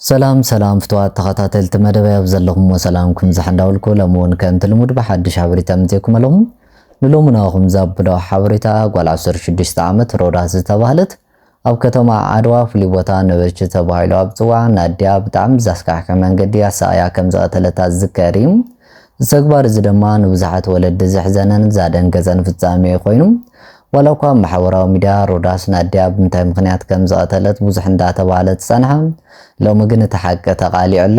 ሰላም ሰላም ፍትዋት ተኸታተልቲ መደበይ ኣብ ዘለኹሞ ሰላምኩም ይብዛሕ እንዳበልኩ ሎሚ እውን ከምቲ ልሙድ ብሓድሽ ሓበሬታ ምጽኤኩም ኣሎም ንሎሚ ናኹም ዛብሎ ሓበሬታ ጓል 16 ዓመት ሮዳስ ዝተባህለት ኣብ ከተማ ዓድዋ ፍሉይ ቦታ ነበርቺ ተባሂሉ ኣብ ዝጽዋዕ ናድያ ብጣዕሚ ዘስካሕክሕ መንገዲ ኣሳቕያ ከም ዝቐተለታ ዝዝከር እዩ እዚ ተግባር እዚ ድማ ንብዙሓት ወለዲ ዘሕዘነን ዛደንገጸን ፍጻሜ ኮይኑ ዋላኳ ኣብ ማሕበራዊ ሚድያ ሮዳስ ናድያ ብምንታይ ምኽንያት ከም ዝቐተለት ብዙሕ እንዳተባህለ ዝጸንሐ ሎሚ ግን እቲ ሓቂ ተቓሊዑ ኣሎ።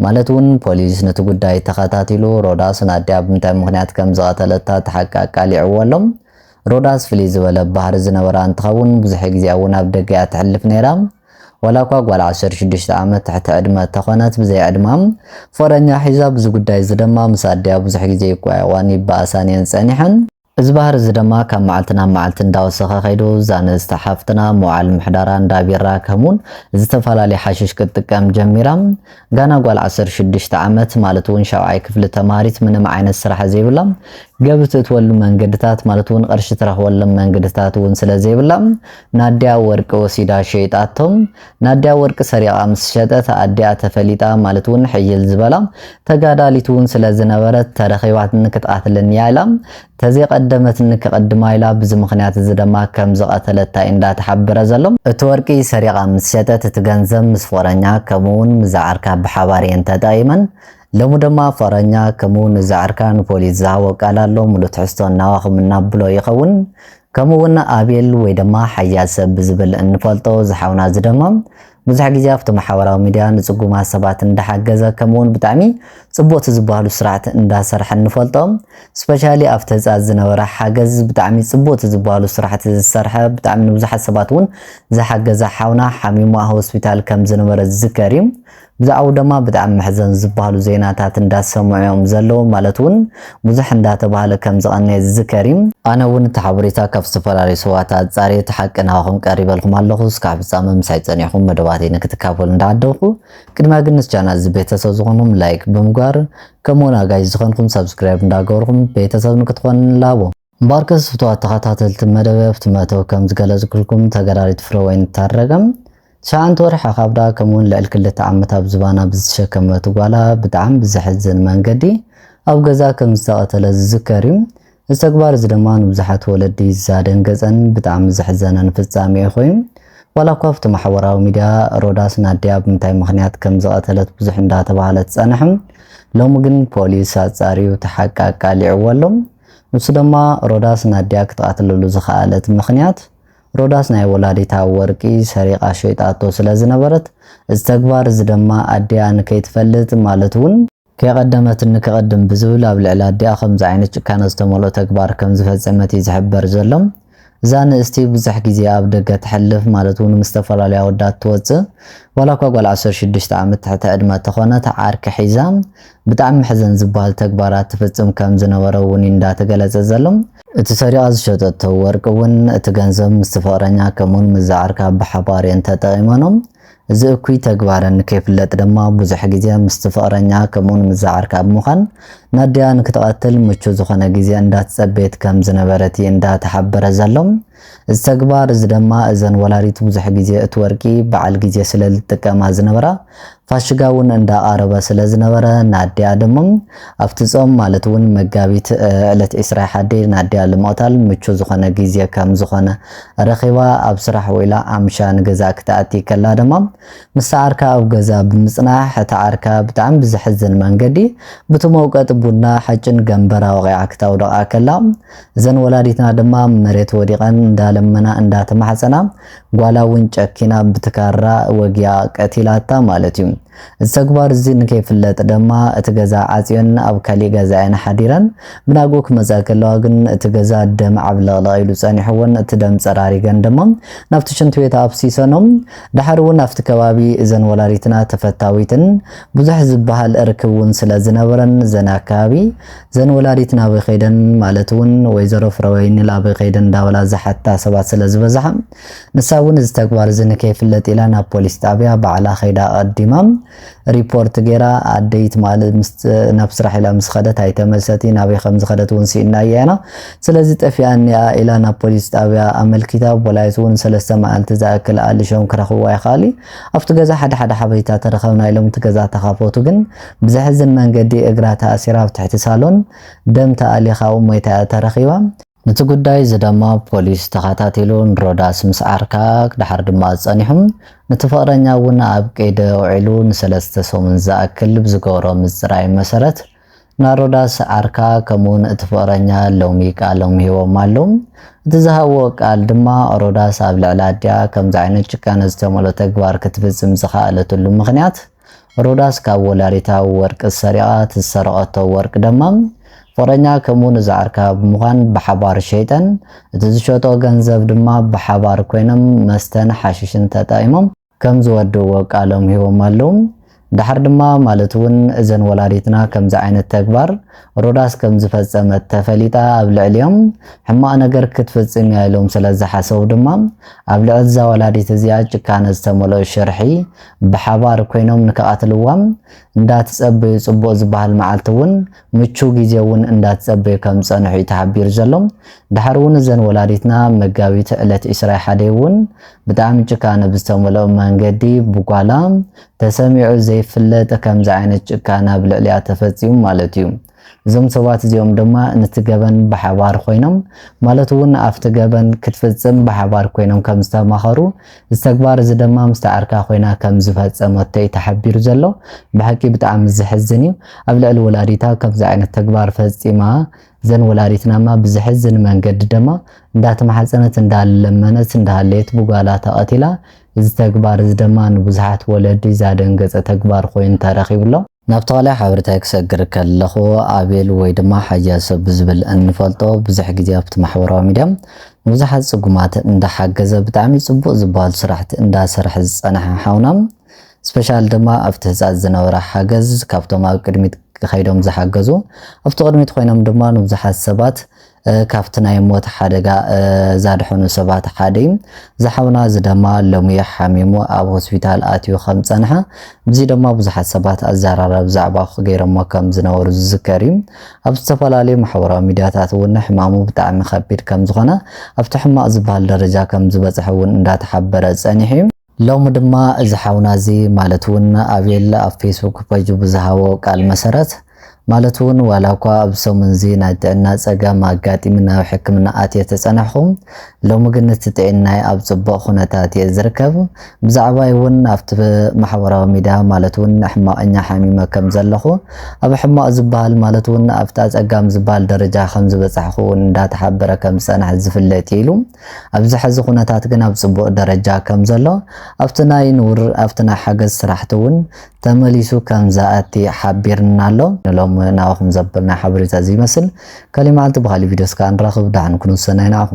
ማለት እውን ፖሊስ ነቲ ጉዳይ ተኸታቲሉ ሮዳስ ናድያ ብምንታይ ምኽንያት ከም ዝቐተለታ እቲ ሓቂ ኣቃሊዕዎ ኣሎ። ሮዳስ ፍልይ ዝበለ ባህሪ ዝነበራ እንትኸውን ብዙሕ ግዜኣ እውን ኣብ ደገ እያ ተሕልፍ ነይራ። ዋላኳ ጓል ዓሰርተ ሽዱሽተ ዓመት ትሕቲ ዕድመ እተኾነት ብዘይ ዕድማ ፎረኛ ሒዛ ብዚ ጉዳይ እዚ ድማ ምስ ኣዲኣ ብዙሕ ግዜ ይቋየቋን ይበኣሳን እየን ጸኒሐን። እዚ ባህሪ እዚ ደማ ካብ መዓልቲ ናብ መዓልቲ እንዳወሰኸ ከይዱ፣ እዛ ንእስቲ ሓፍትና መውዓል ምሕዳራ እንዳ ቢራ ከምውን ዝተፋላለየ ሓሽሽ ክትጥቀም ጀሚራ። ጋና ጓል ዓሰርተ ሽዱሽተ ዓመት ማለት እውን ሻውዓይ ክፍሊ ተማሃሪት ምንም ዓይነት ስራሕ ዘይብላ፣ ገቢ ትእትወሉ መንገድታት ማለት እውን ቕርሺ ትረኽበሎም መንገድታት እውን ስለዘይብላ ናዲያ ወርቂ ወሲዳ ሸይጣቶ። ናዲያ ወርቂ ሰሪቓ ምስ ሸጠት ኣዲኣ ተፈሊጣ ማለት ውን ሕይል ዝበላ ተጋዳሊት ውን ስለ ዝነበረት ተረኺባትኒ ክትቓትለኒ እያ ኢላ ተዘይቐደመትኒ ክቕድማ ኢላ ብዚ ምኽንያት እዚ ደማ ከም ዝቐተለታ እዩ እንዳ ተሓበረ ዘሎ። እቲ ወርቂ ሰሪቓ ምስ ሸጠት እቲ ገንዘብ ምስ ፎረኛ ከምኡ ውን ምዛ ዓርካ ብሓባር እየን ተጠቒመን። ሎሚ ደማ ፋራኛ ከምኡ ውን ዛዕርካ ንፖሊስ ዝሃቦ ቃል ኣሎ ምሉእ ትሕዝቶ ናባኹም እናብሎ ይኸውን ከምኡ ውን ኣቤል ወይ ደማ ሓያል ሰብ ብዝብል እንፈልጦ ዝሓውና እዚ ደማ ብዙሕ ግዜ ኣብቲ ማሕበራዊ ሚድያ ንጽጉማት ሰባት እንዳሓገዘ ከምኡ ውን ብጣዕሚ ጽቡቕቲ ዝበሃሉ ስራሕቲ እንዳሰርሐ እንፈልጦ ስፔሻሊ ኣብቲ ህጻት ዝነበረ ሓገዝ ብጣዕሚ ጽቡቕቲ ዝበሃሉ ስራሕቲ ዝሰርሐ ብጣዕሚ ንብዙሓት ሰባት ውን ዝሓገዘ ሓውና ሓሚሙ ኣብ ሆስፒታል ከም ዝነበረ ዝዝከር እዩ ብዛዕብኡ ደማ ብጣዕሚ መሕዘን ዝባሃሉ ዜናታት እንዳሰምዑ እዮም ዘለዉ ማለት ውን ብዙሕ እንዳተባሃለ ከም ዝቀነየ ዝዝከር እዩ። ኣነ ውን እቲ ሓበሬታ ካብ ዝተፈላለዩ ሰባት ኣጻርየ እቲ ሓቂ ናባኹም ቀሪበልኩም ኣለኹ እስካዕ ፍጻመ ምሳይ ጸኒሕኩም መደባተይ ንክትካፈሉ እንዳዓደምኩ ቅድሚያ ግን ንስ ቻናል እዚ ቤተሰብ ዝኾንኩም ላይክ ብምግባር ከምኡ ውን ኣጋይሽ ዝኸንኩም ሳብስክራይብ እንዳገበርኩም ቤተሰብ ንክትኾኑኒ ንላቦ። እምበኣርከስ ፍቱዋት ተኸታተልቲ መደበይ ኣብቲ መእተዊ ከም ዝገለጽኩልኩም ተጋዳሊት ፍረወይኒ ታረቀ ትሽዓንተ ወርሒ ካብ ደኣ ከምኡውን ልዕሊ ክልተ ዓመት ኣብ ዝባና ብዝተሸከመት ጓላ ብጣዕሚ ብዘሕዝን መንገዲ ኣብ ገዝኣ ከም ዝተቐተለት ዝዝከር እዩ። እዚ ተግባር እዚ ድማ ንብዙሓት ወለዲ ዛደንገጸን ብጣዕሚ ዘሕዘነን ፍጻሜኡ ኮይኑ ዋላ እኳ ኣብቲ ማሕበራዊ ሚድያ ሮዳስ ናዲኣ ብምንታይ ምኽንያት ከም ዝቐተለት ብዙሕ እንዳተባህለ ትጸንሕም ሎሚ ግን ፖሊስ ኣጻርዩ እቲ ሓቂ ኣቃሊዕዎ ኣሎ። ንሱ ደማ ሮዳስ ናድያ ክትቀትለሉ ዝኸኣለት ምኽንያት ሮዳስ ናይ ወላዲታ ወርቂ ሰሪቃ ሸይጣቶ ስለ ዝነበረት እዚ ተግባር እዚ ደማ ኣዲኣ ንከይትፈልጥ ማለት ውን ከይቀደመት ንክቅድም ብዝብል ኣብ ልዕሊ ኣዲኣ ከምዚ ዓይነት ጭካነ ዝተመልኦ ተግባር ከም ዝፈጸመት እዩ ዝሕበር ዘሎ። እዛ ንእስቲ ብዙሕ ግዜ ኣብ ደገ ተሕልፍ ማለት ውን ምስ ዝተፈላለዩ ኣወዳት ትወጽእ ዋላ እኳ ጓል ዓሰርተ ሽዱሽተ ዓመት ትሕተ ዕድመ ተኾነት ዓርኪ ሒዛ ብጣዕሚ መሕዘን ዝብሃል ተግባራት ትፍጽም ከም ዝነበረ ውን ዩ እንዳ ተገለጸ ዘሎ። እቲ ሰሪቓ ዝሸጠቶ ወርቂ ውን እቲ ገንዘብ ምስቲ ፍቕረኛ ከምኡውን ምስዛ ዓርካ ብሓባር የን ተጠቒመኖም። እዚ እኩይ ተግባረን ከይፍለጥ ድማ ብዙሕ ግዜ ምስቲ ፍቕረኛ ከምኡውን ምስ ዝዓርካ ብምዃን ናዲያ ንክትቐትል ምቹው ዝኾነ ግዜ እንዳተጸበየት ከም ዝነበረት እዩ እንዳ ተሓበረ ዘሎ። እዚ ተግባር እዚ ድማ እዘን ወላዲት ብዙሕ ግዜ እቲ ወርቂ በዓል ግዜ ስለ ዝጥቀማ ዝነበራ ፋሽጋ እውን እንዳቐረበ ስለ ዝነበረ ናዲያ ድማ ኣብቲ ጾም ማለት እውን መጋቢት ዕለት ዕስራ ሓዲ ንኣዲኣ ልምቕታል ምቹ ዝኾነ ግዜ ከም ዝኾነ ረኺባ ኣብ ስራሕ ውዒላ ኣምሻ ንገዛኣ ክትኣቲ ከላ ድማ ምስታ ዓርካ ኣብ ገዛ ብምጽናሕ እታ ዓርካ ብጣዕሚ ብዘሕዝን መንገዲ ብቲ መውቀጢ ቡና ሓጭን ገምበራ ወቒዓ ክታውድቓ ከላ እዘን ወላዲትና ድማ ኣብ መሬት ወዲቐን እንዳለመና እንዳተማሕጸና ጓላ እውን ጨኪና ብቲ ካራ ወጊኣ ቀቲላታ ማለት እዩ። እዚ ተግባር እዚ ንከይፍለጥ ደማ እቲ ገዛ ዓጽዮን ኣብ ካሊእ ገዛ እየን ሓዲረን። ብናግኡ ክመጻ ከለዋ ግን እቲ ገዛ ደም ዓብለቕለቕ ኢሉ ጸኒሕወን እቲ ደም ጸራሪገን ደማ ናብቲ ሽንቲ ቤት ኣፍሲሰኖ። ደሓር እውን ኣብቲ ከባቢ እዘን ወላዲትና ተፈታዊትን ብዙሕ ዝበሃል ርክብ እውን ስለ ዝነበረን እዘን ኣከባቢ እዘን ወላዲትና ኣበይ ከይደን ማለት እውን ወይዘሮ ፍረወይኒ ኣበይ ከይደን እንዳበላ ዝሓታ ሰባት ስለ ዝበዝሓ ንሳ እውን እዚ ተግባር እዚ ንከይፍለጥ ኢላ ናብ ፖሊስ ጣብያ ባዕላ ከይዳ ኣቐዲማ ሪፖርት ገይራ ኣደይ ትማሊ ናብ ስራሕ ኢላ ምስ ኸደት ኣይተመልሰት ናበይ ከም ዝኸደት እውን ስኢንናያ ኢና ስለዚ ጠፊኣኒ እያ ኢላ ናብ ፖሊስ ጣብያ ኣመልኪታ ፖላይስ እውን ሰለስተ መዓልቲ ዝኣክል ኣልሾም ክረኽብዋ ይኸኣሉ ኣብቲ ገዛ ሓደ ሓደ ሓበሬታ ተረኸብና ኢሎም እቲ ገዛ ተኻፈቱ ግን ብዘሕዝን መንገዲ እግራ ተኣሲራ ኣብ ትሕቲ ሳሎን ደም ተኣሊኻ ኣብኡ ሞይታ እያ ተረኺባ ነቲ ጉዳይ እዚ ደማ ፖሊስ ተኻታቲሉ ንሮዳስ ምስ ዓርካ ክድሓር ድማ ጸኒሑ ነቲ ፍቕረኛ እውን ኣብ ቀይዲ ኣውዒሉ ንሰለስተ ሰሙን ዝኣክል ብዝገበሮ ምጽራይ መሰረት ናሮዳስ ዓርካ ከምኡውን እቲ ፍቕረኛ ሎሚ ቃሎም ሂቦም ኣለው እቲ ዝሃብዎ ቃል ድማ ሮዳስ ኣብ ልዕሊ ኣዲኣ ከምዚ ዓይነት ጭካነ ዝተመልኦ ተግባር ክትፍጽም ዝኸኣለትሉ ምኽንያት ሮዳስ ካብ ወላዲታ ወርቂ ሰሪቓ ትዝሰረቐቶ ወርቂ ደማ ፍቕረኛ ከምኡ ንዝዓርካ ብምዃን ብሓባር ሸይጠን እቲ ዝሸጦ ገንዘብ ድማ ብሓባር ኮይኖም መስተን ሓሽሽን ተጣኢሞም ከም ዝወድእዎ ቃሎም ሂቦም ኣለው። ደሓር ድማ ማለት እውን እዘን ወላዲትና ከምዚ ዓይነት ተግባር ሮዳስ ከም ዝፈፀመት ተፈሊጣ ኣብ ልዕሊኦም ሕማቕ ነገር ክትፍፅም እያ ኢሎም ስለ ዝሓሰቡ ድማ ኣብ ልዕሊ እዛ ወላዲት እዚኣ ጭካነ ዝተመልኦ ሽርሒ ብሓባር ኮይኖም ንክቃትልዋም እንዳትጸበዩ ጽቡቅ ዝባሃል ማዓልቲ ውን ምቹው ግዜ ውን እንዳትጸበዩ ከም ዝጸንሑ ዩ ተሓቢሩ ዘሎ ዳሓር ውን እዘን ወላዲትና መጋቢት ዕለት ዕስራ ሓደይ ውን ብጣዕሚ ጭካነ ብዝተመልኦ መንገዲ ብጓላ ተሰሚዑ ዘይፍለጥ ከምዚ ዓይነት ጭካነ ኣብ ልዕሊኣ ተፈጺሙ ማለት ዩ እዞም ሰባት እዚኦም ድማ ነቲ ገበን ብሓባር ኮይኖም ማለት እውን ኣብቲ ገበን ክትፍጽም ብሓባር ኮይኖም ከም ዝተማኸሩ እዚ ተግባር እዚ ድማ ምስቲ ዓርካ ኮይና ከም ዝፈጸመቶ እዩ ተሓቢሩ ዘሎ ብሓቂ ብጣዕሚ ዝሕዝን እዩ ኣብ ልዕሊ ወላዲታ ከምዚ ዓይነት ተግባር ፈጺማ ዘን ወላዲትናማ ብዝሕዝን መንገዲ ድማ እንዳተማሓፀነት እንዳለመነት እንዳሃለየት ብጓላ ተቐቲላ እዚ ተግባር እዚ ድማ ንብዙሓት ወለዲ ዛደንገፀ ተግባር ኮይኑ ተረኺቡ ኣሎ። ናብ ተዋላይ ሓበሬታይ ክሰግር ከለኹ ኣቤል ወይ ድማ ሓያሰ ብዝብል እንፈልጦ ብዙሕ ግዜ ኣብቲ ማሕበራዊ ሚድያ ንብዙሓት ጽጉማት እንዳሓገዘ ብጣዕሚ ጽቡቅ ዝበሃሉ ስራሕቲ እንዳሰርሐ ዝጸንሐ ሓውና ስፔሻል ድማ ኣብቲ ህጻጽ ዝነበረ ሓገዝ ካብቶም ኣብ ቅድሚት ከይዶም ዝሓገዙ ኣብቲ ቅድሚት ኮይኖም ድማ ንብዙሓት ሰባት ካብቲ ናይ ሞት ሓደጋ ዛድሐኑ ሰባት ሓደ እዩ። ዝሓውና እዚ ደማ ሎሚ ሓሚሙ ኣብ ሆስፒታል ኣትዩ ከም ዝጸንሐ ብዚ ደማ ብዙሓት ሰባት ኣዛራረብ ዛዕባ ክገይሮሞ ከም ዝነበሩ ዝዝከር እዩ። ኣብ ዝተፈላለዩ ማሕበራዊ ሚድያታት እውን ሕማሙ ብጣዕሚ ከቢድ ከም ዝኾነ ኣብቲ ሕማቕ ዝበሃል ደረጃ ከም ዝበጽሐ እውን እንዳተሓበረ ጸኒሑ እዩ። ሎሚ ድማ እዚ ሓውና እዚ ማለት እውን ኣቤል ኣብ ፌስቡክ ፐጁ ብዝሃቦ ቃል መሰረት ማለት እውን ዋላ እኳ ኣብ ሰሙን እዚ ናይ ጥዕና ፀገም ኣጋጢሚ ናብ ሕክምና ኣትየ ተፀናሕኹ ሎሚ ግን እቲ ጥዒናይ ኣብ ፅቡቕ ኩነታት እየ ዝርከብ ብዛዕባይ እውን ኣብቲ ማሕበራዊ ሚድያ ማለት እውን ሕማቕኛ ሓሚመ ከም ዘለኹ ኣብ ሕማቕ ዝበሃል ማለት እውን ኣብቲ ኣፀጋሚ ዝበሃል ደረጃ ከም ዝበፃሕኹ እውን እንዳተሓበረ ከም ዝፀንሐ ዝፍለጥ እዩ ኢሉ ኣብዚ ሐዚ ኩነታት ግን ኣብ ፅቡቅ ደረጃ ከም ዘሎ ኣብቲ ናይ ንውር ኣብቲ ናይ ሓገዝ ስራሕቲ እውን ተመሊሱ ከም ዝኣቲ ሓቢርና ኣሎ። ንሎሚ ናባኹም ዘበልና ሓበሬታ እዚ ይመስል ካሊእ መዓልቲ ብካሊእ ቪድዮ እስከ ንራኽብ ዳሓን ኩኑ ሰናይ ንዓኹም።